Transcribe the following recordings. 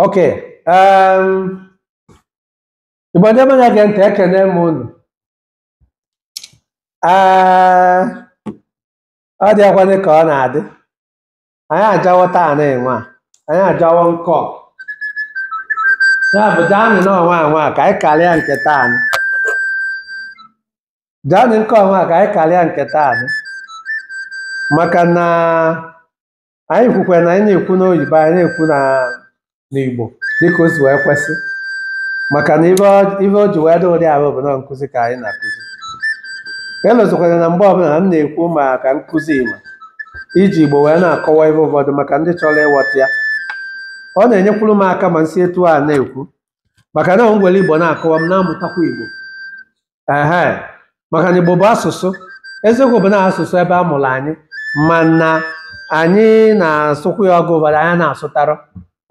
ok um, igbo ndị be anyị na-ege ntị ekene m unu Ee, ọ dị akwanị ka ọ na-adị anyị ajawo taanị nwa anyị ajawa nkọ ya bụ jaanị nọnwa anwa ka anyị karịa nke taanị jaanị nke ọnwa ka anyị karịa nke taanị maka na anyị kwukwara na anyị na-ekwu n'oyibo anyị na-ekwu na n'igbo dịka o si wee kwesị maka na ife ọ- ife o ji wee dị ụdị ahụ bụ na nkụzi ka anyị na-akụzi elozikwana na mgbe ọbụna m na-ekwu maka nkụzi igbo iji igbo wee na-akọwa ife ụfọdụ maka ndị chọrọ ịghọta ya ọ na-enyekwuru m aka ma m si etu a na-ekwu maka na m were igbo na-akọwa m na-amụtakwa igbo ehe maka na igbo bụ asụsụ eziokwu bụ na asụsụ ebe a mụrụ anyị mana anyị na-asụkwu ya ọgụ ụfọdụ anyị na-asụtarọ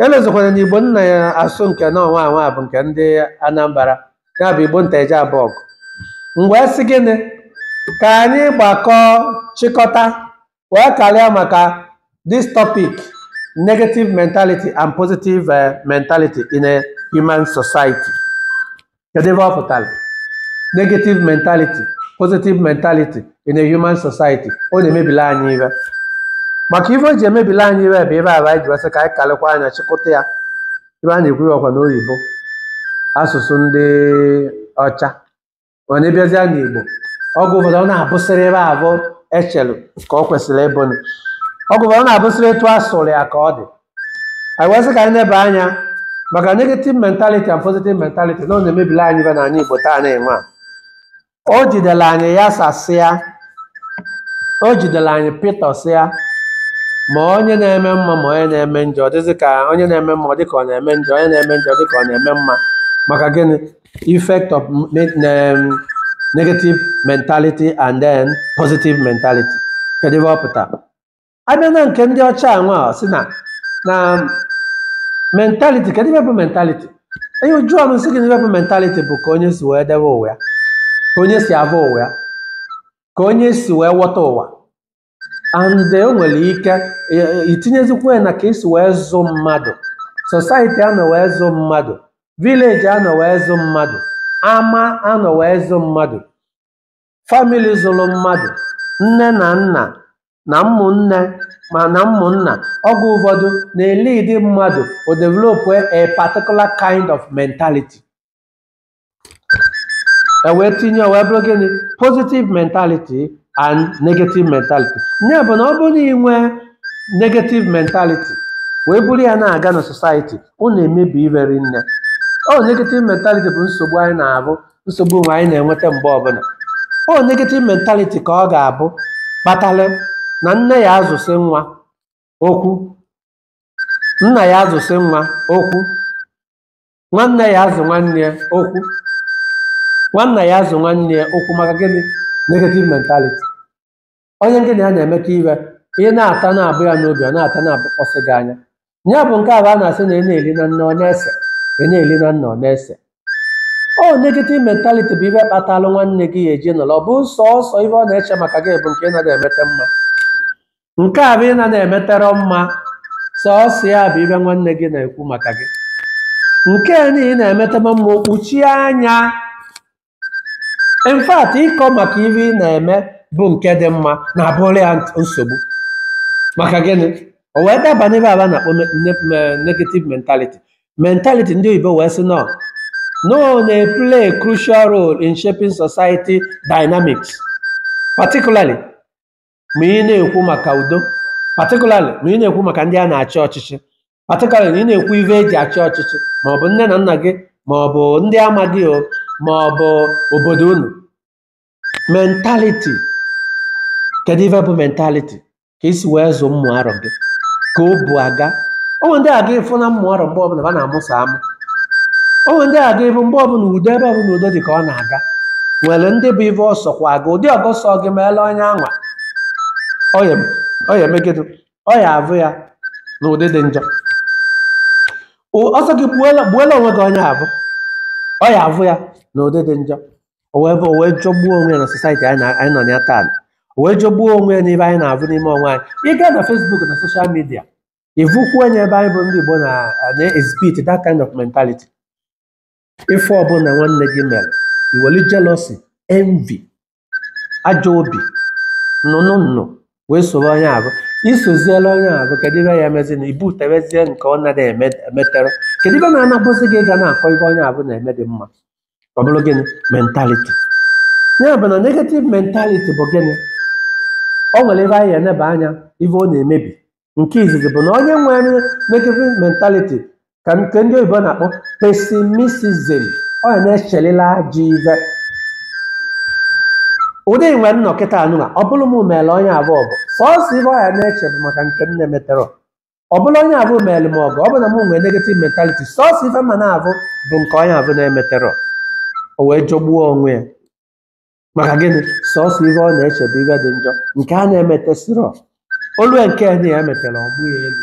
elozikwana na igbo m na-asụ nke nọnwa anwa bụ nke ndị anambra ya bụ igbo nteje abọgụ m wee sị gịnị ka anyị gbakọọ chịkọta wee karịa maka this topic negative mentality and positive eh, mentality in a human society kedu ife ọ pụtara negative mentality positive mentality in a human society ọ na-emebiri anyị ife maka ife o ji emebiri anyị ife bụ ife afụ anyị ji wee sị ka anyị karịkwa anya chịkọta ya ebe a na-ekwu ya ọkwa n'oyibo asụsụ ndị ọcha onye bịazịa n'Igbo ọgụ ụfọdụ ọ na-abụsịrị ife afụ e chelụ ka ọ kwesịrị ịbụ nụ. ọgụ ụfọdụ ọ na-abụsịrị etu a sụrụ ya ka ọ dị anyị wee sị ka anyị neba anya maka negative mentality and positive mentality na ọ na-emebili anyị ife n'anị Igbo taanị nwa o jidere anyị yasasịa o jidere anyị pịtọsịa ma onye na-eme mma ma onye na-eme njọ ọ dịzị ka onye na-eme mma ọ dị ka ọ na-eme njọ onye na-eme njọ ọ dị ka ọ na-eme mma maka gịnị effect of me- ne- negative mentality and then positive mentality kedu ife ọ pụtara a bịa na nke ndị ọcha anwa a, sị na na mentality kedu ife bụ mentality onye ị jụrụ ọ sị gị na ife bụ mentality bụ ka onye si wee debe ụwa ya ka onye si afụ ụwa ya ka onye si wee ghọta ụwa and e nwere ike e- itinyezikwa ya na ka e si wee zụ mmadụ society a nọ wee zụ mmadụ village a nọ wee zụ mmadụ ama a nọ wee zụ mmadụ family zụrụ mmadụ nne na nna na ụmụnne ma na ụmụnna oge ụfọdụ na-elidi mmadụ o develop a particular kind of mentality e wee tinye o wee bụrụ gịnị positive mentality and negative mentality ya bụ na ọ bụrụ na ị nwee negative mentality wee buru ya na-aga na society ọ na-emebi ive ri nne ọ negative mentality bụ nsogbu anyị na-abụ nsogbu nwe anyị na-enweta mgbe ọbụla ọ negative mentality ka ọ ga-abụ kpatara na nne ya azụsị nwa okwu nna ya azụsị nwa okwu nwanne ya azụ nwanne ya okwu nwanna ya azụ nwanna ya okwu maka gịnị negative mentality onye gị na ya na-emekọ ive ị na-ata na-abụ ya n'obi ọ na-ata na-abụkpọsị gị anya ya bụ nke avụ a na-asị na ị na-eli na nne ọ na-ese ị na-eli na nna ọ na-ese ọ negative mentality bụ ive kpatalụ nwanne gị ya eji nọrọ ọ bụ sọsọ ive ọ na-eche maka gị bụ nke ị na-ada emeta mma nke avụ ị na emeterọ mma sọọsọ ya bụ ive nwanne gị na-ekwu maka gị nke na ị na-emete mma o kpuchie anya in fact ịkọ maka ive ị na-eme bụ nke dị mma na-abụrụ ya nsogbu maka gịnị o wee daba n'ive avụ a na-akpọ me- ne- me- negative mentality mentality ndị oyibo wee sị na ọ na-play a crucial role in shaping society dynamics particularly ma ị na-ekwu maka udo particularly ma ị na-ekwu maka ndị a na-achị ọchịchị particularly na ị na-ekwu ive e ji achị ọchịchị ma ọ bụ nne na nna gị ma ọ bụ ndị ama gị o ma ọ bụ obodo unu mentality kedu ive bụ mentality ka i si wee zụ ụmụ arọ gị ka o bu aga o nwe ndị a ga-afụ na ụmụ arọ mgbe ọbụla ha na-amụsa amụ o nwe ndị a ga-avụ mgbe ọbụla udo ebe ọbụla udo dị ka ọ na-aga nwere ndị bụ ive ọ sọkwa aga ụdị ọ ga-asọ gị meela onye anwa ọ ya emegidụ ọ ya avụ ya na ụdị dị njọ ọ sọ gị gbuola onwe gị onye avụ ọ ya avụ ya na ụdị dị njọ o wee jọgbuo onwe ya na society anyị nọ na ya taa o wee jọgbuo onwe ya n'ive anyị na-avụ n'ime onwe anyị ị gaa na Facebook na social midia ị vụkwa onye be anyị bụ ndị Igbo na na-exhibit that kind of mentality ife ọbụla nwanne gị mere i weli jealousy envy ajọ obi nnụnụ nnụ wee soro onye avụ i soziela onye avụ kedu ive ya-emezi na ị vụtebezie nke ọ nara emetere kedu ive na-anabụzi gị ga na-akọ ive onye avụ na-eme dị mma ọ bụrụ gịnị mentality ya bụ na negative mentality bụ gịnị o wee bụ anyị eneba anya ive ọ na-emebi nke izizi bụ na onye nwere negative mentality ka nke ndị oyibo na-akpọ pessimism ọ ya na-echelila ajọ ive ụdị m wee nọ kịta nụwa ọ bụrụ m meele onye avụ ọgọ sọsọ ive ọ ya na-eche bụ maka nke m na-emeterọ ọ bụrụ onye avụ meele m ọgọ ọ bụ na m nwere negative mentality sọsọ ive m ya na-avụ bụ nke onye avụ na-emeterọ o wee jọgbuo onwe ya maka gịnị sọsọ ive ọ na-eche bụ ive dị njọ nke a na-emetesirọ olu nke na ya emetela ọ bụghị elu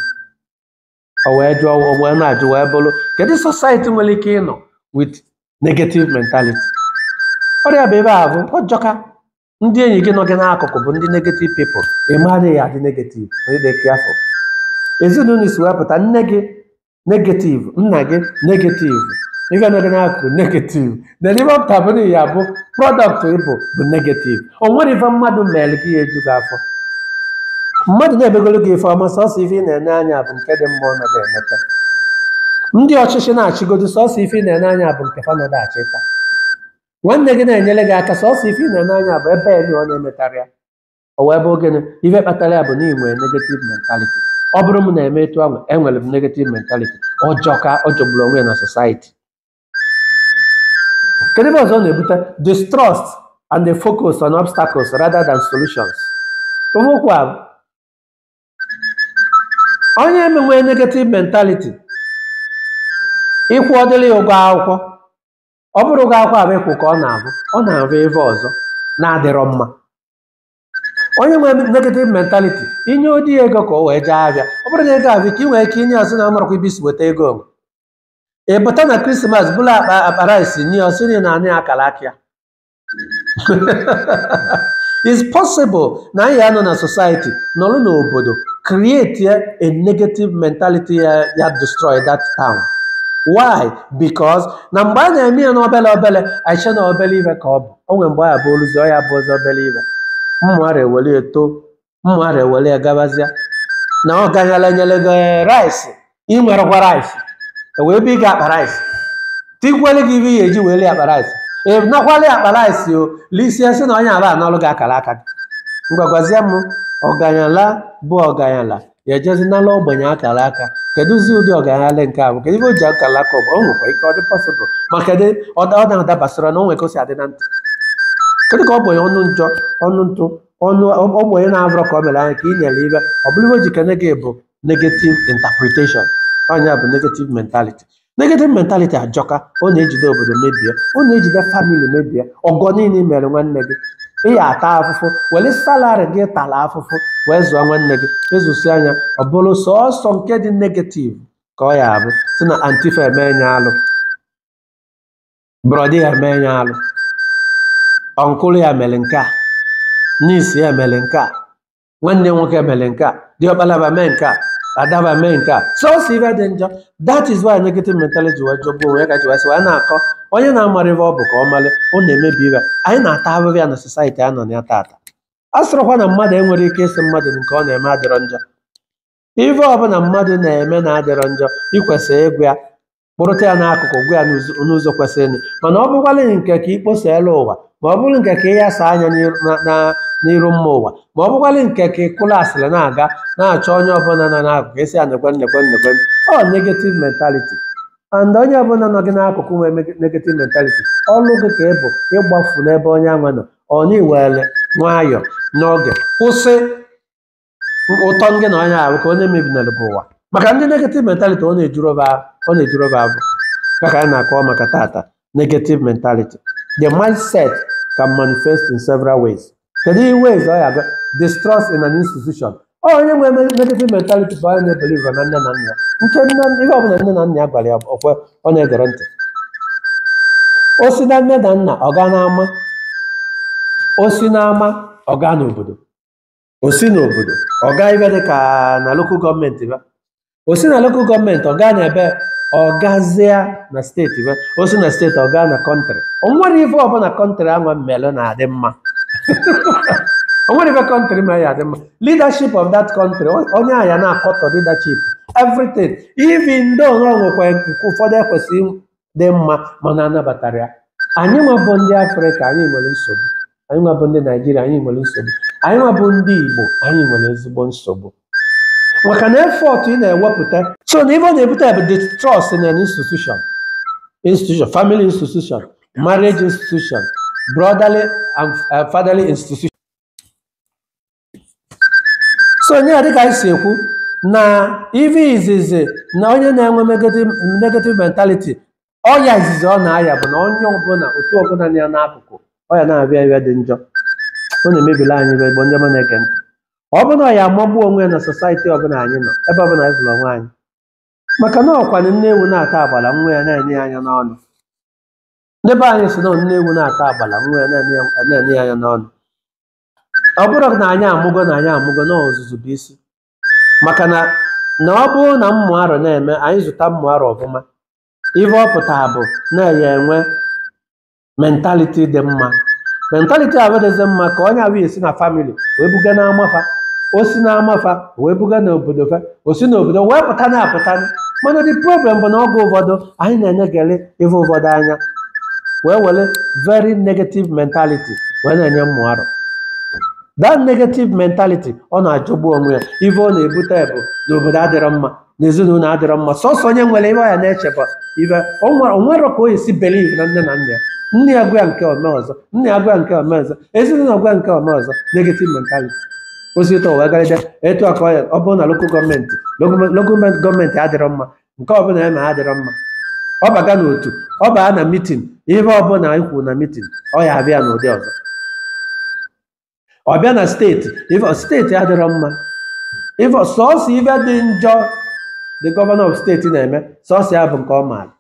o wee jụọ o wee na-ajụ wee bụrụ kedu society nwere ike ịnọ with negative mentality ụdị ya bụ ebe avụ ọ jọka ndị enyi gị nọ gị n'akụkụ bụ ndị negative people ị ma gị ya-adị negative ma ị dị careful ezinụlọ i si wee pụta nne gị negative nna gị negative ife nine dị n'akụkụ negative na ive ọ pụta bụ na ị ya-abụ product ị bụ bụ negative o nwerọ ife mmadụ mere gị ya-eju gị afọ mmadụ na-emegoro gị ife ọma sọsọ ife ị na-ene anya bụ nke dị mma ọ nọdụ emeta ndị ọchịchị na-achịgodo sọsọ ife ị na-ene anya bụ nke fa nọdụ achịta nwanne gị na-enyere gị aka sọsọ ife ị na-ene anya bụ ebe nine ọ na-emetarọ ya o wee bụ gịnị ive kpatara ya bụ na ị nwere negative mentality ọ bụrụ m na-eme etu ahụ enwere m negative mentality ọ jọka ọ jọgburu onwe ya na society kedu ive ọzọ ọ na-ebute distrust and the focus on obstacles rather than solutions Ihe okwu a bụ, onye nwe negative mentality ị kwụọdili ya ụgwọ akwụkwọ ọ bụrọ ụgwọ akwụkwọ avụ ị kwụ ka ọ na-avụ ọ na-avụ ive ọzọ na-adịrọ mma onye nwere negative mentality i nyeodi ya ego ka o wee jee avịa ọ bụrụ na ego avịa ka ị nwere ike inye ọ sị na amarọkwa ebe i si weta ego m ị pụta na Christmas bulu akpa akpa rice nye ọ sị na ị na-ana ya akara aka ya is possible na anyị ya-anọ na society nọrọ n'obodo create a negative mentality ya ya destroy that town why because na mgbe a na-eme ya n'obele obele anyị che na obele ive ka ọ bụ o nwere mgbe ọ ya-abụ o luzie ọ ya-abụzị obere ive ụmụaro ewere ya too ụmụaro ewere ya gabazịa na ọganyala nyere gị rice i nwerọkwa rice e wee bunye gị akpa rice tikwele gị ive i ya-eji wee lie akpa rice ị nakwala ya akpa rice o lisie sị na onye avụ analụ gị akara aka gị ngwa gwazie m ọganyala bụ ọganyala ya ejezi n'ala ogbenye akara aka kedụzi ụdị ọgaranya nke a bụ kedu ife o ji akara aka ọgba o nwekwa ike ọ dị pọsịbụl ma kedu ọ da- ọ na-adabasịra na o nwere ka o si adị na ntị kedu ka ogbenye ọnụ njọ ọnụ ntụ ọnụ ogbenye na-abụrọ ka ọ mere nya ka ị nyere ife ọ bụrụ ife o ji kene gị bụ negative interpretation ọ nya bụ negative mentality negative mentality ajọka ọ na-ejide obodo mebie ọ na-ejide famili mebie ọgọ niile mere nwanne gị ị ya ata afụfụ were salari gị tara afụfụ wee zụọ nwanne gị ị zụsịa nya ọ bụrụ sọọsọ nke dị negativ ka ọ ya abụ si na anti ya eme ya alụ brọda ya eme ya alụ ọnkụlụ ya mere nke a nis ya mere nke a nwanne nwoke mere nke a diọkpala ba mee nke a ada ba mee nke a sọsọ ife dị njọ that is why negative mentality ji wee jọgbuo onwe ya ka ji wee sị wee na-akọ onye na-amara ife ọ bụ ka ọ mara ọ na-emebi ife anyị na-ata ahụhụ ya na society a nọ na ya tata a sịrọkwa na mmadụ enwere ike ịsị mmadụ nke ọ na-eme adịrọ njọ ife ọbụla mmadụ na-eme na-adịrọ njọ i kwesịrị ịgwa ya kpụrụta ya n'akụkụ gwa ya n'ụzọ n'ụzọ kwesịrịnụ mana ọ bụkwala nke ka ị kposaela ụwa ma ọ bụrụ nke ka ị yasa nya n'iru- na- na- n'iru mba ụwa ma ọ bụkwala nke ka ị kụla asịrị na-aga na-achọ onye ọbụla nọ n'akụkụ esi anekwe nnekwe nnekwe ọ negative mentality and onye ọbụla nọ gị n'akụkụ nwee mege- negative mentality ọlụ gị ka ị bụ ịgbafu n'ebe onye anwa nọ ọ na-ewere nwayọọ n'oge kwụsị ụtọ ngị na onye ahụ ka onye mebinara bụ ụwa maka ndị negative mentality ọ na-ejurọ ba ọ na-ejurọ ba afọ ya ka anyị na-akọwa maka tata negative mentality the mindset can manifest in several ways kedu ihe ways ọ ya abịa distrust in an institution ọ onye nwere me- negative mentality bụ onye na-ebelieve na nne na nna ya nke nne ihe ọbụla nne na nna ya gwara ya ọkwe ọ na-egere ntị o si na nne na nna ọ gaa n'ama o si n'ama ọ gaa n'obodo o si n'obodo ọ gaa ife dị ka na lokal gọọmenti ba o si na lokal gọọmenti ọ gaa n'ebe ọ gazia na steeti ba o si na steeti ọ gaa na kọntrị o nwere ife ọbụla kọntrị ahụ melụ na-adị mma o nwere ife kọntrị mere ya adị mma leadership of that country o- onye ahụ ya na-akọtọ leadership everything even though na o nwekwa nke ụfọdụ ekwesịghị dị mma mana a nabatara ya anyị nwa bụ ndị afrịka anyị nwere nsogbu anyị nwa bụ ndị naijiria anyị nwere nsogbu anyị nwa bụ ndị igbo anyị nwere ezigbo nsogbu maka na efọt ị na-ewepụta so na ife ọ na-ebute bụ distrust in an institution institution family institution marriage institution brotherly and uh, fatherly institution so nye dịka anyị si ekwu na ive izizi na onye na-enwe negative negative mentality ọya izizi ọ na-aya bụ na onye ọbụla otu ọbụla nọ ya n'akụkụ ọya na-abịa abịa dị njọ ọ na-emebila anyị bụ ndị ọma na-ege ntị ọ bụ na ọya amagbu onwe ya na society ọbụla anyị nọ ebe ọbụla anyị fụrụ onwe anyị maka na ọkwanụ nne ewu na-ata agbala nwa ya na-ene ya anya n'ọnụ ndị be anyị si na nne ewu na-ata agbala nwa ya na-ene ya anya n'ọnụ ọ bụrụ na anyị amụgo na anyị amụgo na ọzụzụ bụ isi maka na na ọ bụrụ na ụmụ arọ na-eme anyị zụta ụmụ arọ ọfụma ife ọ pụtara bụ na a ya-enwe mentality dị mma mentality ahụ dịzi mma ka onye ahụ esi na family wee buga na ama fa o si na ama fa wee buga na obodo fa o si na obodo wee pụta na apụta mana the problem bụ na oge ụfọdụ anyị na-eneghara ife ụfọdụ anya wee were very negative mentality wee na-enye ụmụ arọ that negative mentality ọ na-ajọgbu onwe ya ife ọ na-ebute bụ na obodo adịrọ mma na ezinụlọ adịrọ mma sọsọ onye nwere ife ya na-echeba ife o nwere- o nwere ka o esi believe na nne na nna ya nne ya gwa ya nke o mee ọzọ nne ya gwa ya nke o mee ọzọ ezinụlọ gwa ya nke o mee ọzọ negative mentality o si ụlọ wee garịda etu aka ya ọ bụrụ na lokal gọọmenti lokal gọọmenti adịrọ mma nke ọbụla ya na adịrọ mma ọ baga n'otu ọ baa na mitin ihe ọbụla anyị kwuru na mitin ọ ya abịa n'ụdị ọzọ ọ bịa na steeti ife steeti adịrọ mma ife sọọsọ ife dị njọ the governor of steeti na-eme sọọsọ ya bụ nke ọ maara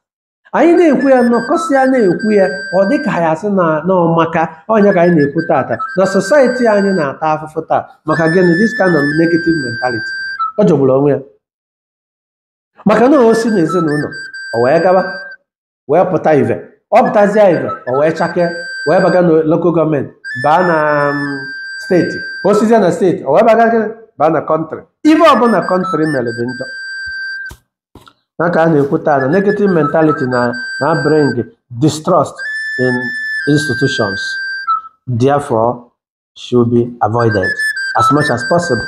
anyị na-ekwu ya nọkọsịa na-ekwu ya ọ dị ka ya sị na na ọ maka nya ka anyị na-ekwu tata na society anyị na-ata afụfụ taa maka gịnị this kind of negative mentality ọ jọgburu onwe ya maka na o si n'ezinụlọ o wee gaba wee pụta ive ọ pụtazie ive o wee chakee wee baga na lokal gọọmenti baa na mm, steeti o sizie na steeti o wee baga gịnị baa na kọntrị ive ọbụla kọntrị mere dị njọ na ka a na-ekwu taa na negative mentality na-abring distrust in institutions therefore should be avoided as much as possible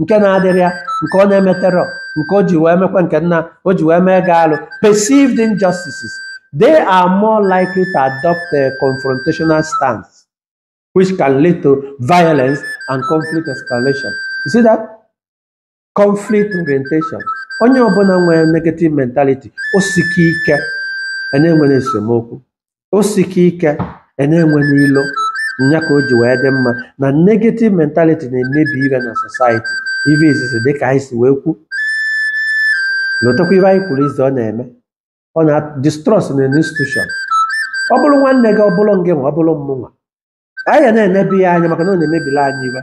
nke na-adịrị ya nke ọ na-emeterọ nke o ji wee mekwa nke nna o ji wee megaa alụ perceived injustices they are more likely to adopt a confrontational stance which can lead to violence and conflict escalation you see that conflict orientation onye ọbụla nwere negative mentality o sike ike a na-enwere esemokwu o sike ike e na-enwe n'ilo nya ka o ji wee dị mma na negative mentality na-emebi ife na society ife izizi dị ka anyị si wee kwu lotakwa ife anyị kwuru izi ọ na-eme ọ na distrust na institution ọ bụrụ nwanne gị ọ bụrụ ngịnwa ọ bụrụ mmụnwa anyị ga na-eneba ya anya maka na ọ na-emebila anyị ife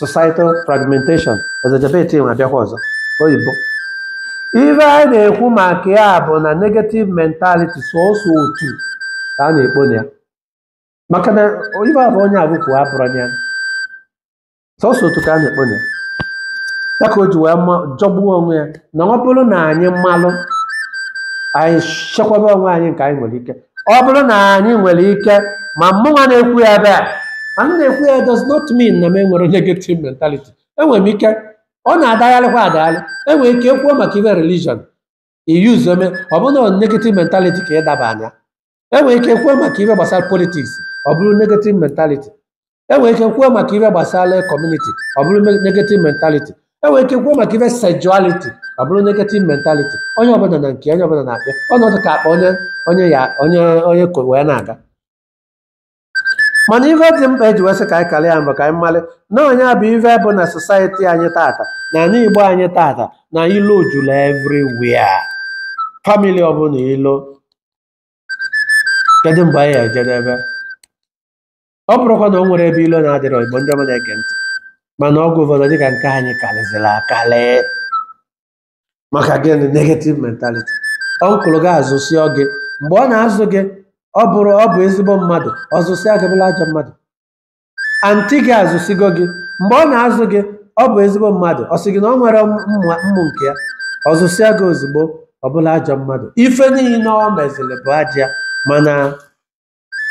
societal fragmentation ọzọ jabeti nwe abịakwa ọzọ oyibo ife a na-ekwu maka ya bụ na negative mentality sọsọ otu ka a na-ekpo na ya maka na ife a bụ onye abụkwu abụrụ ya sọsọ otu ka a na-ekpo na ya ya ka o ji wee jọgbuo onwe ya na ọ bụrụ na anyị malụ anyị chekwaba onwe anyị nke anyị nwere ike ọ bụrụ na anyị nwere ike ma mụnwa na-ekwu ya ebe a na m na-ekwu ya does not mean na m enwerọ negative mentality enwere m ike ọ na-adagharịkwa adagharị enwere ike ekwuo maka ife religion iyuzu eme ọ bụrụ na negative mentality ka ịdaba anya enwere ike ekwuo maka ife gbasara politics ọ bụrụ negative mentality enwere ike kwuo maka ife gbasara kọmuniti ọ bụrụ me- negative mentality enwere ike kwuo maka ife sexuality ọ bụrụ negative mentality onye ọbụla na nke onye ọbụla na-akpịa ọnọdụ ka akpa onye onye ya onye onye ko wee na-aga mana ife dị mkpa eji wee sị ka anyị karịa ya maka anyị malụ na nya bụ ife bụ na society anyị tata n'ana igbo anyị tata na ilo juru everywhere family ọbụla ilo kedu mgbe anyị ejedebe ọ bụrụkwa na o nwere ebe ilo na-adịrọ igbo ndị ọma na-ege ntị mana ọgwụ ụfọdụ dịka nke anyị karịzịrị akarị maka gịnị negative mentality uncle gị azụsịọ gị mgbe ọ na-azụ gị ọ bụrụ ọ bụ ezigbo mmadụ ọ zụsịa gị ọ bụrụ ajọ mmadụ aunty gị azụsigo gị mgbe ọ na-azụ gị ọ bụ ezigbo mmadụ ọ sị gị na ọ nwere ụmụ nke ya ọ zụsịa gị ozugbo ọ bụrụ ajọ mmadụ ife niile ọ meziri bụ ajọ mana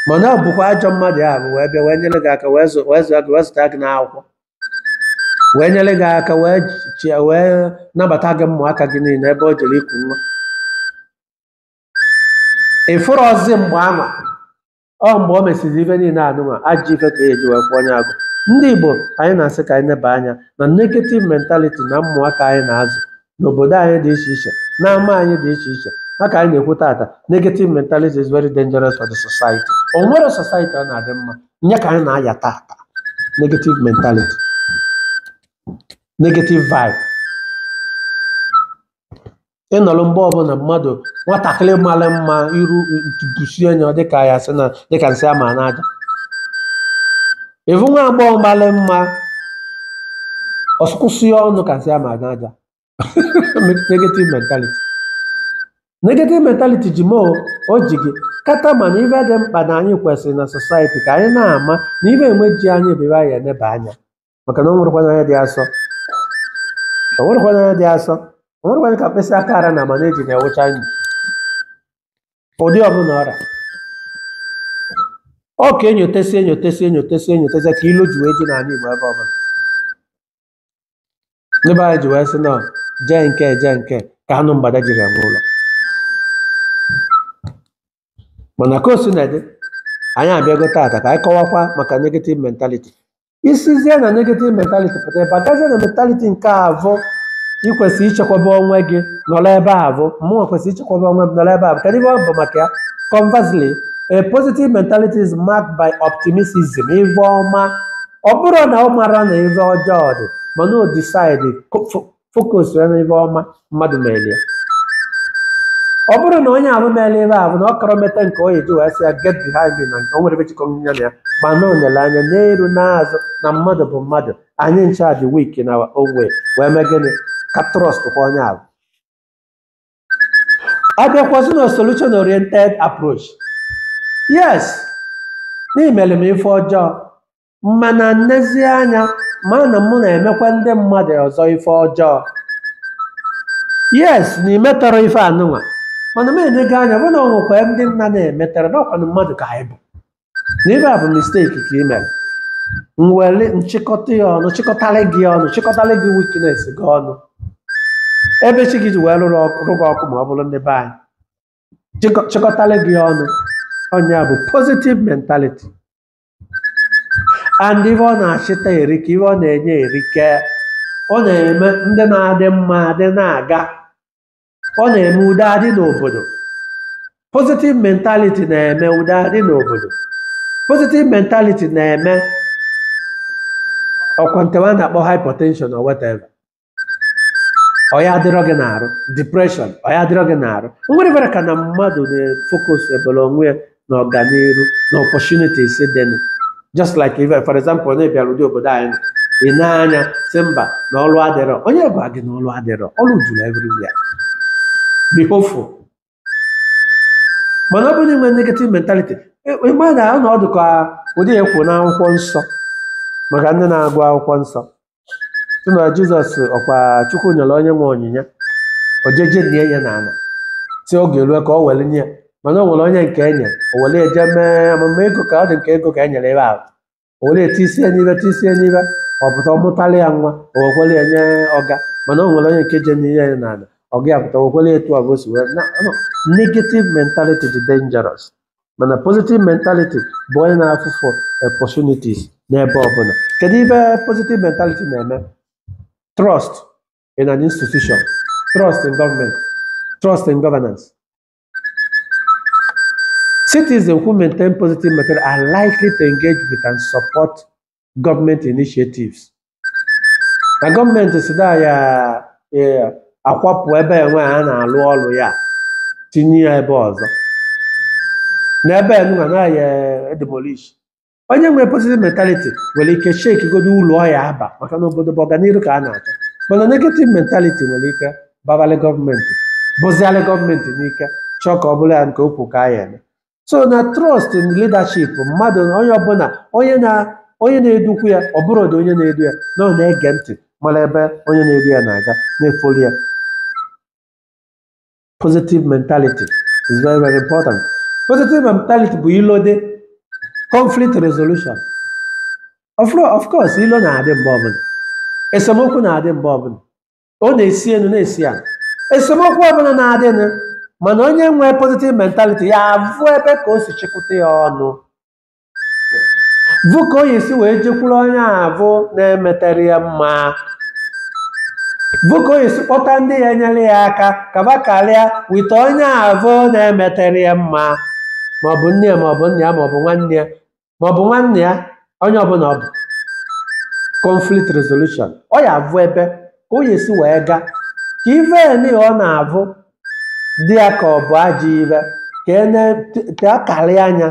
mana ọ bụkwa ajọ mmadụ afụ wee bịa wee nyere gị aka wee zụ- wee zụọ gị wee zụta gị n'akwụkwọ wee nyere gị aka wee chịa wee nabata gị ụmụaka gị niile ebe o jere iku nwa ị fụrọzi mgbe anwa ọ mgbe o mesịrị ife niile anwa ajọ ife ka eji wee kwụọ onye afụ ndị igbo anyị na-asị ka anyị neba anya na negative mentality na ụmụaka anyị na-azụ n'obodo anyị dị iche iche n'ama anyị dị iche iche maka anyị na-ekwu tata negative mentality is very dangerous for the society o nwerọ society ọ na-adị mma nya ka anyị na-aya tata negative mentality negative vibe ịnọrọ mgbe ọbụla mmadụ nwatakịrị mara mma iru busie anya dịka ya sị na dịka nsị ama n'aja ị vụ nwa agbọghọ malị mma ọ sụkwasị ya ọnụ kasị ama aga aja negative mentality negative mentality ji m o ji gị kata mana ife dị mkpa na anyị kwesịrị na society ka anyị na-ama na ibe enwe ji anyị bụ ibe anyị eneba anya maka na o nwerekwana onye dị asọ o nwerekwana onye dị asọ o nwerekwana ka mkpịsị aka ara na mana eji na-ewụcha anyị ụdị ọbụla ọra ọ ka enyotesi enyotesi enyotesi enyotesi ka ilu ji wee ji n'ala Igbo ebe ọbụla ndị be anyị ji wee sị na jee nke jee nke ka anụ mgbada jiri eme ụlọ mana ka o sina dị anyị abịago taata ka anyị kọwakwa maka negative mentality i sizie na negative mentality pụta ị bịazie na mentality nke avụ i kwesị ichekwaba onwe gị nọrọ ebe avụ mụnwa kwesịrị ichekwaba onwe m nọrọ ebe avụ kedu ihe ọ bụ maka ya conversely a positive mentality is marked by optimism ife ọma ọ bụrụ na ọ mara na ife ọjọọ dị mana o decide focus ya n'ife ọma mmadụ mere ya ọ bụrụ na onye ahụ mere ife avụ na ọ karọ meta nke onye ji wee sị ya get behind me na nke o nwere ife jikọ ya na ya ma na o nere anya n'iru n'azụ na mmadụ bụ mmadụ anyị ncha dị weak na our own way wee mee gịnị ka trust kwa onye ahụ abịakwazị na solution oriented approach yes na i mere m ife ọjọọ mana m nezie anya ma na mụ na-emekwa ndị mmadụ ọzọ ife ọjọọ yes na i metarọ ife anụnwa mana m enego anya vụ na o nwekwa ndị m na-emetarọ na ọ kwanụ mmadụ ka anyị bụ na ife avụ mistake ka i mere m were chịkọta ya ọnụ chịkọtara gị ọnụ chịkọtara gị weakness gị ọnụ ebe chi gị ji wee rụrụ ọkụ rụba ọkụ ma ọ bụrụ ndị be anyị chịkọ- chịkọtara gị ọnụ ọ nya bụ positive mentality and ife ọ na-achịta erika ife ọ na-enye erika ọ na-eme ndụ na-adị mma adị na-aga ọ na-eme udo adị n'obodo positive mentality na-eme udo adị n'obodo positive mentality na-eme ọ kwa nke wa na-akpọ hypertension or whatever ọ ya adịrọ gị n'arụ depression ọ ya adịrọ gị n'arụ o nwerọ ife ra ka na mmadụ na-efocus ebere onwe ya na ọganihu na opportunities dị na just like if for example onye bịara ụdị obodo anyị nọ ị na-anụ a sị mba na ọrụ adịrọ onye gwa gị na ọrụ adịrọ ọrụ juru everywhere be hopeful mana ọ bụrụ na i nwee negative mentality ị ma na anọ ọ dị ka ụdị ya kwuru n'akwụkwọ nsọ maka ndị na-agụ akwụkwọ nsọ sị na jizọs ọ kwa chukwu nyere onye nwe onyinye o je je ninye n'ala sị oge rue ka ọ were nye ya mana o nwere onye nke e nye o were je mee amụba ego ka ọ dị nke ego ka e nyere ebe ahụ o were etisie n'ibe tisie n'ibe ọ pụta ọ mụtara ya nwa o wekwere ya nye ọga mana o nwere onye nke je n'ihe ya n'ala ọga ya pụta o wekwere ya etu avụ o si wee na no, negative mentality dị dangerous mana positive mentality bụ onye na-afụ for opportunities n'ebe ọbụla kedu ife positive mentality na-eme trust in an institution trust in government trust in governance Citizens who maintain positive method are likely to engage with and support government initiatives. Na gọọmenti sị na ya eh, akwapụ ebe enwe a na-alụ ọrụ ya tinye ya ebe ọzọ. Na ebe enwe na ya edemolish onye nwere positive mentality nwere ike shake godo ụlọ ọya aba maka na obodo bụ ọganihu ka a na-achọ mana negative mentality nwere ike babalị gọọmenti bụzialị gọọmenti n'ike chọọ ka ọ bụrụ ya nke okwu ka ya eme so na trust in leadership mmadụ onye ọbụla onye na onye na-edukwu ya ọ bụrụ ụdị onye na-edu ya na ọ na-ege ntị mara ebe onye na-edu ya na-aga na-efolo ya positive mentality is very very important positive mentality bụ ilo dị conflict resolution of course ilo na-adị mgbe ọbụla esemokwu na-adị mgbe ọbụla ọ na-esi elu na-esi ala esemokwu ọbụla na-adịnụ mana onye nwee positive mentality ya avụ ebe ka o si chịkọta ya ọnụ vụ ka ọ ya-esi wee jekwuru onye avụ na-emetere ya mma vụ ka ọ ya-esi kpọta ndị ya-enyere ya aka kaba karịa with onye avụ na-emetere ya mma maọbụ nne ya maọbụ nna ya maọbụ nwanna ya maọbụ nwanne ya onye ọbụla ọ bụ conflict resolution ọ ya-avụ ebe ka ọ ya-esi wee gaa ka ife eni ọ na-avụ dị ya ka ọ bụ ajọ ife ka e na-te akarị anya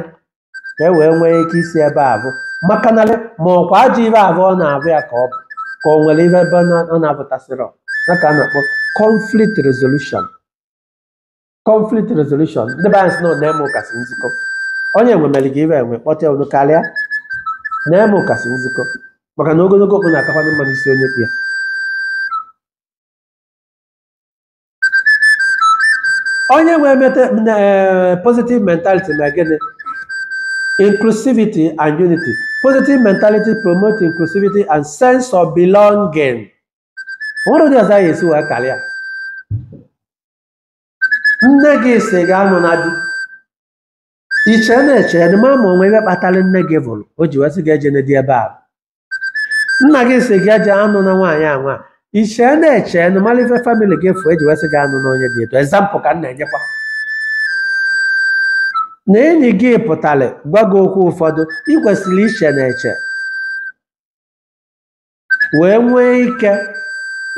ka e wee nwee ike isi ebe avụ maka na ma ọkwa ajọ ife avụ ọ na-avụ ya ka ọ bụ ka o nwere ife ebe ọ na-apụtasịrị ya ka a na-akpọ conflict resolution conflict resolution ndị be anyị sị na ọ na-eme ụkasị nzikọ onye nwe mere gị ife iwe kpọta unu karịa na-eme ụkasị nzikọ maka na ogologo okpu na-akakwana mma n'isi onye kpu ya onye nwee mete eh, positive mentality na gịnị inclusivity and unity positive mentality promote inclusivity and sense of belonging nwere ụdị ụzọ anyị esi wee karịa nne gị sị gị anụna di iche na-eche na ma ma o nwe ife kpatara nne gị vụrụ o ji wee sị gị ejena di ebe a nna gị sị gị aja anụna nwaanyị a nwa iche na-eche na mara ife famili gị fụ e ji wee sị gị anụna onye dị etu example ka m na-enyekwa na enyi gị pụtara gwa gị okwu ụfọdụ ị kwesịrị iche na-eche wee nwee ike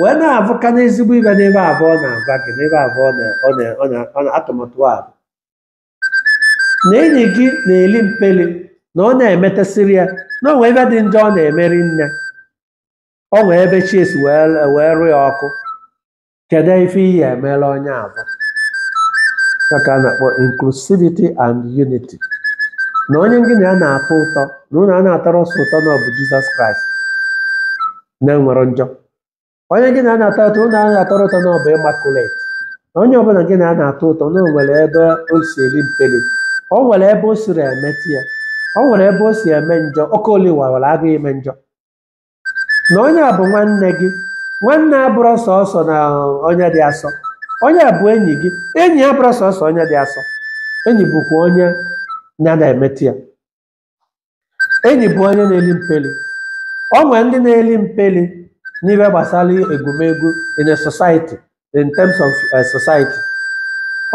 wee na-avụka na ezigbo ive n'ebe avụ ọ na-agwa gị n'ebe avụ ọ na- ọ na- ọ na- ọ na- atụmatụ a na enyi gị na-eli mpeli na ọ na-emetesịrị ya na o nwee ive dị njọ ọ na-emeri nne o nwee ebe chi si wee wee rụọ ya ọkụ kedu ife ị ya-emela onye avụ ọ ya ka a na-akpọ inclusivity and unity na onye gị na ya na-atọ ụtọ na unu ana-atọrọ sọ ụtọ na ọ bụ jizọs kraịst na-enwerọ njọ onye gị na a na-atọ ụtọ unu ana-atọrọ ụtọ na ọ bụ immaculate na onye ọbụla gị na a na-atọ ụtọ na o nwere ebe o si eri mperi o nwere ebe o siri emetụ ya o nwere ebe o si eme njọ oke oli wawara agụ ime njọ na onye a bụ nwanne gị nwanne abụrọ sọsọ na onye dị asọ onye a bụ enyi gị enyi abụrọ sọsọ onye dị asọ enyi bụkwa onye ya na-emetụ ya enyi bụ onye na-eli mpeli o nwere ndị na-eli mpeli n'ihe gbasara egwumegwu in a society in terms of society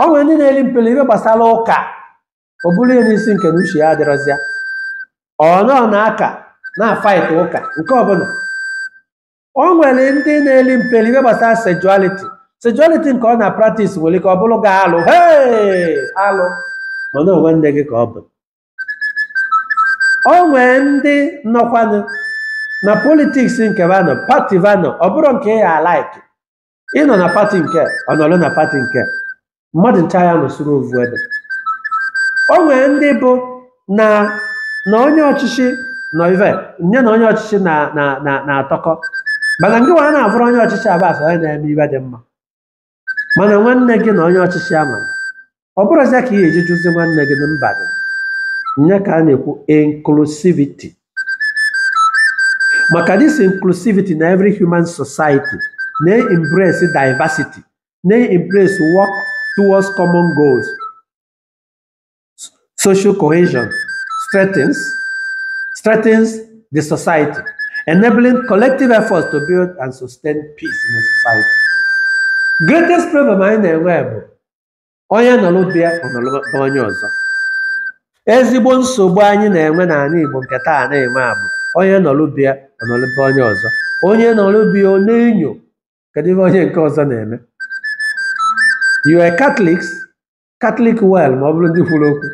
o nwere ndị na-eli mpeli n'ihe gbasara ụka o buru ya n'isi nke na uche ya adịrọzịa ọ nọ na aka na-afight ụka nke ọbụla o nwere ndị na-eli mpeli ihe gbasara sexuality sexuality nke ọ na-practice nwere ike ọ bụrụ gị alụ hee alụ mana ọ nwanne gị ka ọ bụ o nwee ndị nọkwanụ na politiks nke va nọ pati va nọ ọ bụrọ nke ị ya-alike ịnọ na pati nke ọ nọrọ na pati nke mmadụ ncha ya nọsoro ovu ebe o nwee ndị bụ na na onye ọchịchị nọ ive ya na onye ọchịchị na na na na-atọkọ mana ngị nwa ana-avụrọ onye ọchịchị avụ as onye na-eme ive dị mma mana nwanne gị na onye ọchịchị a nwa ọ bụrụzia ka ị ga-eji jụzi nwanne gị na mba gị nya ka a na-ekwu inclusivity maka this inclusivity na every human society na-embrace diversity na-embrace work towards common goals social cohesion strengthens, strengthens the society, enabling collective efforts to build and sustain peace in the society. Greatest problem anyị na-enwe bụ onye nọrọ be ya ọ nọrọ be onye ọzọ. Ezigbo nsogbu anyị na-enwe n'ala Igbo nke taa na-enwe a bụ onye nọrọ be ya ọ nọrọ be onye ọzọ. Onye nọrọ be ya ọ na-enyo kedu ihe onye nke ọzọ na-eme. You are Catholics, Catholic well ma ọ bụrụ ndị kwuru okwu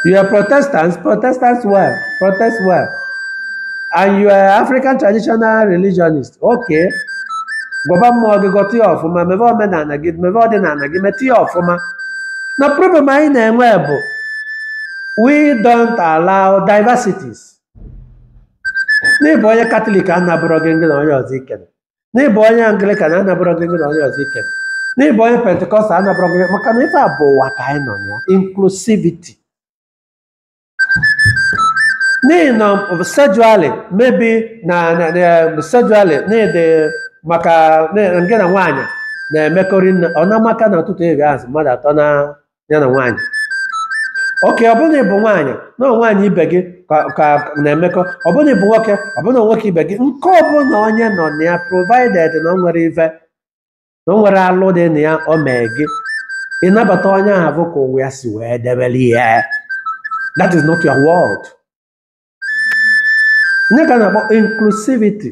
you are Protestants Protestants well protest well and you are African traditional religionist okay gọba mmụọ gị gọta ya ọfụma mebe omenala gị mebe ọdịnala gị meta ya ọfụma na problem anyị na-enwe bụ we don't allow diversities n'ịbụ onye katọlik anabụrọ gị gị na onye ọzọ ikere n'ịbụ onye anglikan anabụrọ gị gị na onye ọzọ ike n'ịbụ onye pentikọstal anabụrọ gị maka na ebe a bụ ụwa ka anyị nọ ya inclusivity n'ihi na sexually maybe na sexually n'ịdị maka gị na nwaanyị na-emekọrị nne ọ na-amaka na ụtụtụ eri azụ mmadụ atọ na ya na nwaanyị oke ọ bụrụ na ị bụ nwaanyị na ọ nwaanyị ibe gị ka ka na-emekọ ọ bụrụ na ị bụ nwoke ọ bụrụ na nwoke ibe gị nke ọ bụla onye nọ na ya provided na o nwerọ ife na o nwerọ alụ dị na ya o mee gị ịnabata onye ahụ bụ ka ụwa ya si wee debere ya that is not your world nya ka a na-akpọ inclusivity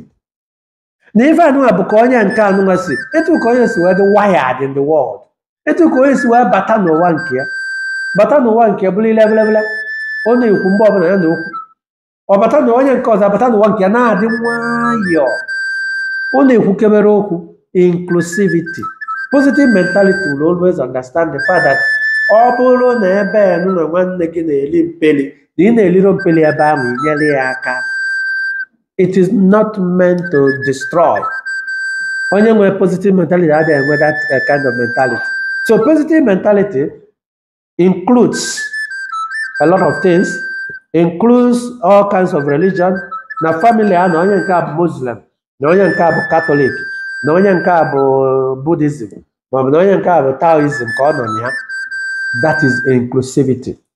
na ife anụnwa bụ ka onye nke anụnwa si etu ka onye si wee dị wired in the world etu ka onye si wee bata n'ụwa nke ya bata n'ụwa nke ya bụrụ ile belebele ọ na-ekwu mgbe ọbụla ya na okwu ọ bata na onye nke ọzọ abata n'ụwa nke ya na-adị nwayọọ ọ na-ekwukebere okwu inclusivity positive mentality will always understand the fact that ọ bụrụ na ebe anụnwa nwanne gị na-eli mpeli na ị na-eliro mpeli ebe ahụ inyere ya aka it is not meant to destroy onye nwere positive mentality adịghị enwe that uh, kind of mentality so positive mentality includes a lot of things includes all kinds of religion na family a na onye nke a bụ muslim na onye nke a bụ katọlik na onye nke a bụ buddhism maọbụ na onye nke a bụ taoism ka ọ nọ na ya that is inclusivity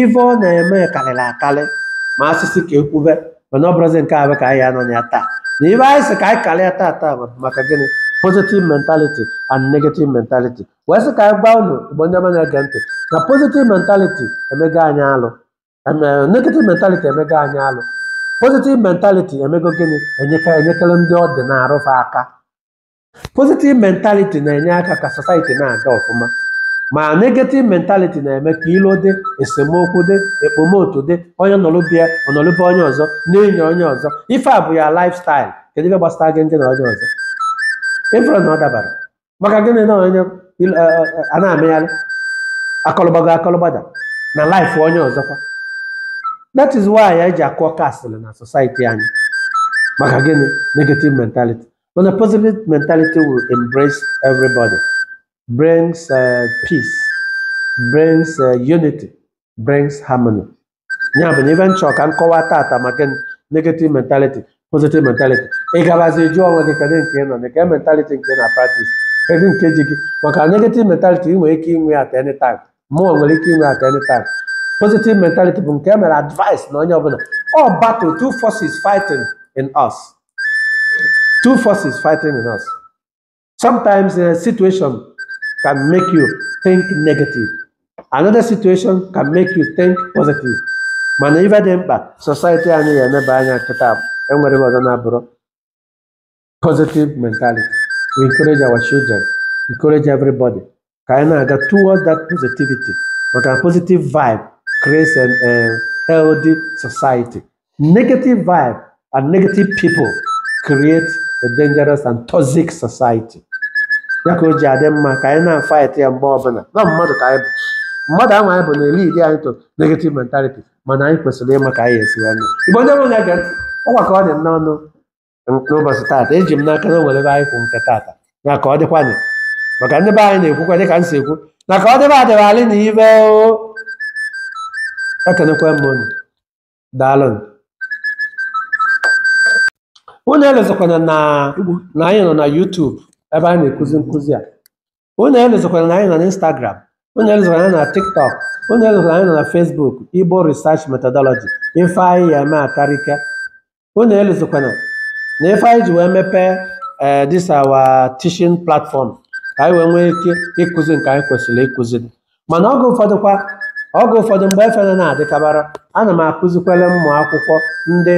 ife ọ na-eme karịrị akarị ma a sị sị ka e kwube mana ọ bụrụzi nke a ka anyị nọ na ya taa na ife anyị sị ka anyị karịa taa taa bụ maka gịnị positive mentality and negative mentality wee sị ka anyị gwa unu igbo ndị ọma na-ege ntị na positive mentality emego anyị alụ Eme- negative mentality emego anyị alụ positive mentality emego gịnị enyeka enyekere ndị ọ dị n'arụ fa aka positive mentality na-enye aka ka society na-aga ọfụma ma negative mentality na-eme ka ilo dị esemokwu dị ekpomotu dị onye nọlụ be ya ọ nọlụ be onye ọzọ na-enyo onye ọzọ ife a bụ ya lifestyle kedu ihe gbasara gị ndị na onye ọzọ ị fụrụ na ọ dabara maka gịnị na onye il- eh, eh, eh, a na-amịgharị akọlụgbago akọlụgbada na life onye ọzọkwa that is why anyị ji akụọ kasịlị na society anyị maka gịnị negative mentality When a positive mentality will embrace everybody, brings uh, peace, brings uh, unity, brings harmony. Ya bụ na ife m chọ ka m kọwaa taata maka negative mentality, positive mentality. Ị gabazi jụọ onwe gị kedu nke ị nọ na kedu mentality nke ị na-practice, kedu nke ji gị maka negative mentality ị nwere ike inwe at any time, mụwa nwere ike inwe at any time. Positive mentality bụ nke e mere advice na onye ọbụla. All battle, two forces fighting in us. two forces fighting in us. Sometimes a situation can make you think negative. Another situation can make you think positive. Mana ife dị mkpa society anyị ya-eleba anya kịta enwerọ ife ọzọ na-abụrọ positive mentality. We encourage our children, encourage everybody ka anyị na-aga towards that positivity maka positive vibe creates a eh, healthy society negative vibe and negative people create a dangerous and toxic society ya ka o ji adị mma ka anyị na-fight ya mgbe ọbụla na mmadụ ka anyị bụ mmadụ ahụ anyị bụ na-elead anyị to negative mentality mana anyị kwesịrị ịma ka anyị esi wee mee igbo ndị nwere na-ege ntị ọ gwakọ ọ dị n'ọnụ n'ụbọchị taata eji m n'aka na o nwere ebe anyị kwụ nke taata na ka ọ dịkwa anyị maka ndị be anyị na-ekwukwa dịka m si ekwu na ka ọ dịba adịba alị na ibe o ekenekwa m unu daalụ unu elozikwana na na anyị nọ na YouTube ebe anyị na-ekuzi nkụzi a unu elozikwana na anyị nọ na Instagram unu elozikwana na anyị nọ na TikTok unu elozikwana na anyị nọ na Facebook Igbo Research Methodology ife anyị ya eme akarịka unu elozikwana na ife anyị ji wee mepee ee this our teaching platform ka anyị wee nwee ike ịkụzi nke anyị kwesịrị ịkụzi mana oge ụfọdụ kwa oge ụfọdụ mgbe efe na-adịkabara ana m akụzikwara ụmụ akwụkwọ ndị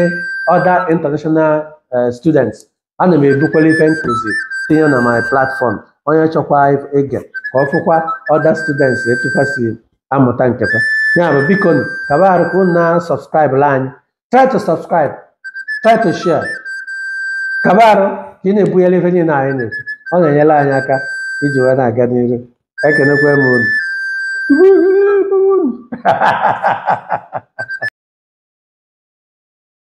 other international eh, students ana m ebukwalụ ife m kụzi tinye na my platform onye chọkwa ige ka ọ fụkwa other students etu fa si amụta nke fa ya bụ biko nụ kaba arụ ka unu na-subscribelụ anyị try to subscribe try to share kaba arụ ka ị na-ebunyere ife niile anyị na-ekwu ọ na-enyere anyị aka iji wee na-aga n'iru ekenekwa m unu